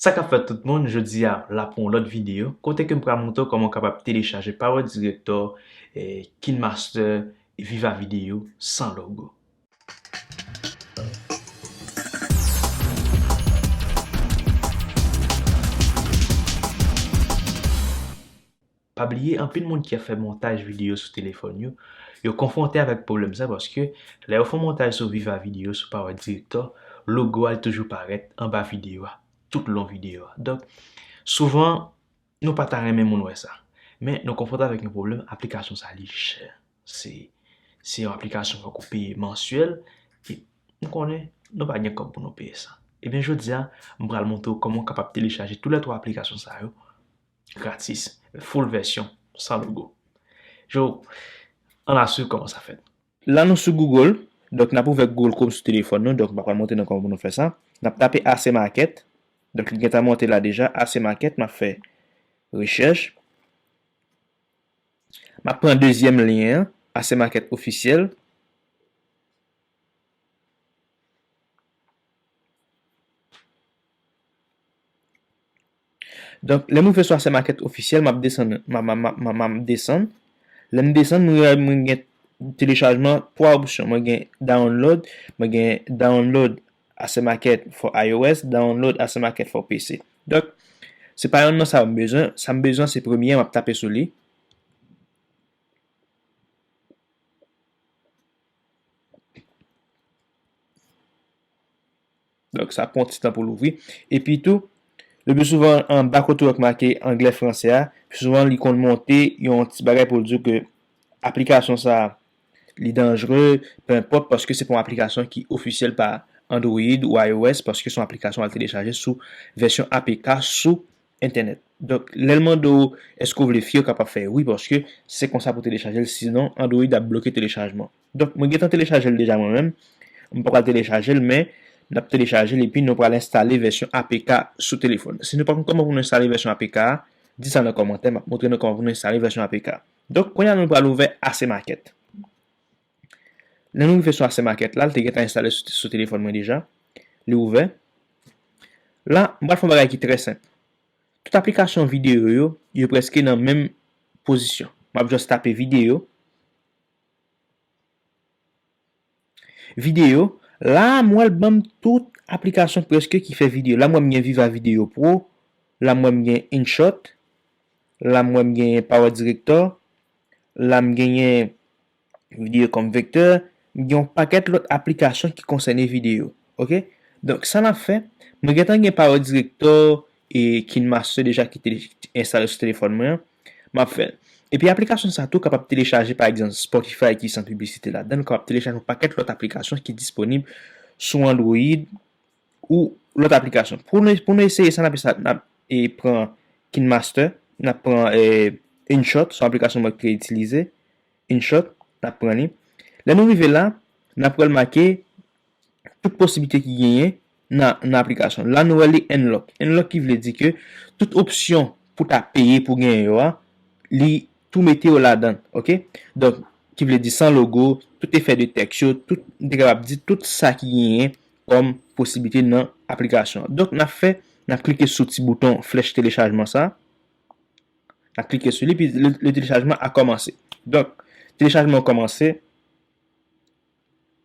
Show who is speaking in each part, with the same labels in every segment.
Speaker 1: Sa kap fèt tout moun, jodi a la pou yon lòt video kote ke m pral moutre w kòman w kapab telechaje Power Director, KineMaster e Viva Video san logo. Pa bliye anpil moun ki ap fè montaj videyo sou telefòn yo, yo konfwonte avèk pwoblèm sa paske lè yo fon montaj sou Viva Video sou Power Director, logo a li toujou parèt anba videyo a tout long videyo a. Donk souvan nou pa ta renmen moun wè sa. Men nou konfwonte avèk yon pwoblèm aplikasyon sa li chè. Se se yon aplikasyon fòk ou peye mansyèl e m konnen nou pa gen kòb pou nou peye sa. Ebyen jodi a m pral montre w kòman w kapab telechaje tou lè 3 aplikasyon sa yo Gratis. Full version. San logo. Yo, an n al swiv kòman sa fèt. La nou sou Google, donk n ap ouvè Google Chrome sou telefòn nou, donk m pa pral montre nou kòman pou nou fè sa. N ap tape AC Market, donk li gentan monte la deja, AC Market, m ap fè rechèch. M ap pran dezyèm lyen an, AC Market Officiel. Donk lèm rive sou asèm akèt ofisyèl map desann map desann lèm desann mwen wè mwen gen telechajman 3 opsyon mwen gen download mwen gen download asèm akèt for IOS download asèm akèt for PC donk se pa yonn nan sa yo m bezwen sa m bezwen se premye map tape sou li. Donk sa pran yon ti tan pou l ouvri. Epi tou, le pi souvan anba kote ou wè ki make anglè franse a, pi souvan li konn monte yon ti bagay pou l di w ke aplikasyon sa a li danjre, penenpòt, paske se pa yon aplikasyon ki ofisyèl pa Android ou IOS, paske se yon aplikasyon al telechaje sou vèsyon apk sou entènèt. Donk lèl mande w eske w vle fi yo kapab fè wi paske se konsa pou telechaje l sinon android ap bloke telechajman. Donk mwen gentan telechaje l deja mwen menm, m poko al telechaje l men nap telechaje l epi nou pral enstale vèsyon apk sou telefòn. Si nou pa konn kòman pou nou enstale vèsyon apk a di sa nan kòmantè map moutre nou kòman pou nou enstale vèsyon apk. Donk kounya nou pral ouvè Ase Market. Lè nou rive sou asè makèt la, li te gentan enstale sou telefòn mwen deja. Li ouvè. La, m pral fè yon bagay ki trè senp. Tout aplikasyon videyo yo, yo prèske nan menm pozisyon. M ap jis tape videyo. Videyo, la a m wè l ban m tout aplikasyon prèske ki fè videyo. La m wè m gen Viva Video Pro, la m wè m gen InShot, la m wè m gen Power Director, la m genyen. Video kòm vektè, m gen yon pakèt lòt aplikasyon ki konsène video. Ok. Donk sa nap fè, mwen gentan gen Power Director e KineMaster deja ki enstale sou telefòn mwen an, map fè l. Epi aplikasyon sa tou kapab telechaje pa egzanp Spotify ki san piblisite ladan l, ou kapab telechaje yon pakèt lòt aplikasyon ki disponib sou Android. Ou lòt aplikasyon. Pou nou eseye sa, n ap fè sa, n ap pran KineMaster, n ap pran InShot, son aplikasyon mwen te itilize, InShot, n ap pran li. Lè nou rive la, n ap pral make tout posiblite ki genyen nan aplikasyon. La nou wè li Unlock. Unlock ki vle di ke tout opsyon pou ta peye pou genyen yo a, li tou mete yo ladan. Ok? Donk, ki vle di san logo, tout efè de tèks yo, tout, m te kapab di tout sa ki genyen kòm posiblite nan aplikasyon an. Donk, n ap fè, n ap klike sou ti bouton flèch telechajman sa a. N ap klike sou li, epi le telechajman a kòmanse. Donk, telechajman an kòmanse.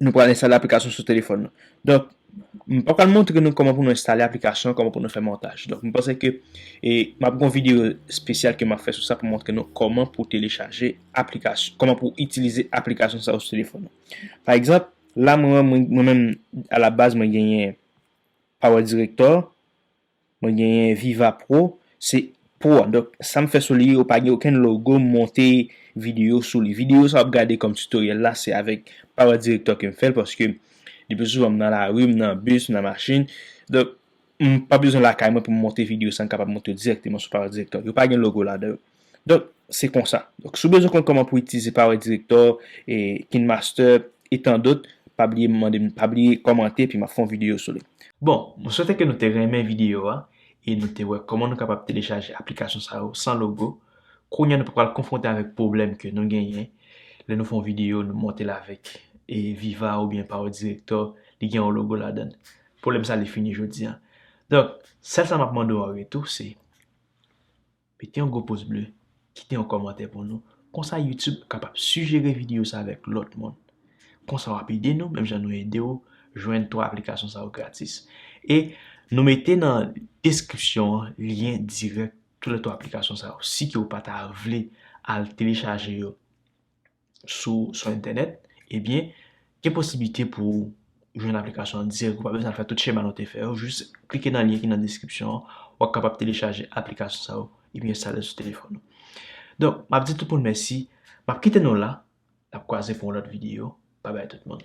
Speaker 1: Nou pral enstale aplikasyon sou telefòn nou. Donk, m pa pral montre nou kòman pou nou enstale aplikasyon, kòman pou nou fè montaj. Donk, m panse ke e m ap gen yon videyo espesyal ke m ap fè sou sa pou montre nou kòman pou telechaje aplikasyon, kòman pou itilize aplikasyon sa yo sou telefòn nou. Pa egzanp, La mwen mwen mwen menm a la baz mwen genyen Power Director, mwen genyen Viva Pro, se Pro a donk sam fè sou li yo pa gen okenn logo m monte video sou li. Video sa wap gade kòm tutoriel la se avèk Power Director kem fèl paske le pi souvan m nan lari, m nan bus, m nan machin donk M pa bezwen lakay mwen pou m monte video sa m kapab monte yo dirèkteman sou Power Director. Yo pa gen logo ladan yo. Donk, se konsa. Donk, si w bezwen konn kòman pou w itilize Power Director, KineMaster, e tan dòt, pa bliye mande m, pa bliye kòmante epi m ap fè yon video sou li. Bon, mwen swete ke nou te renmen video a e nou te wè kòman nou kapab telechaje aplikasyon sa yo san logo. Kounye a nou pa pral konfwonte avèk pwoblèm ke nou genyen lè nou fè yon video nou monte l avèk Viva oubyen Power Director li gen yon logo ladan l. Pwoblèm sa li fini jodi an. Donk, sèl sa m ap mande w an retou se, mete yon gwo poz ble, kite yon kòmantè pou nou, konsa YouTube kapab sijere videyo sa avèk lòt moun. Konsa w ap ede nou menm jan nou ede w jwenn 3 aplikasyon sa yo gratis. E nou mete nan deskripsyon an lyen dirèk tou lè 3 aplikasyon sa yo. Si ke w pa ta vle al telechaje yo. sou sou entènèt, ebyen gen posiblite pou ou jwenn aplikasyon an dirèk ou pa bezwen fè tout chema nou te fè yo, jis klike nan lyen ki nan deskripsyon an wap kapab telechaje aplikasyon sa yo epi enstale l sou telefòn ou. Donk map di tout moun mèsi, map kite nou la, nap kwaze pou yon lòt videyo, bye bye tout moun.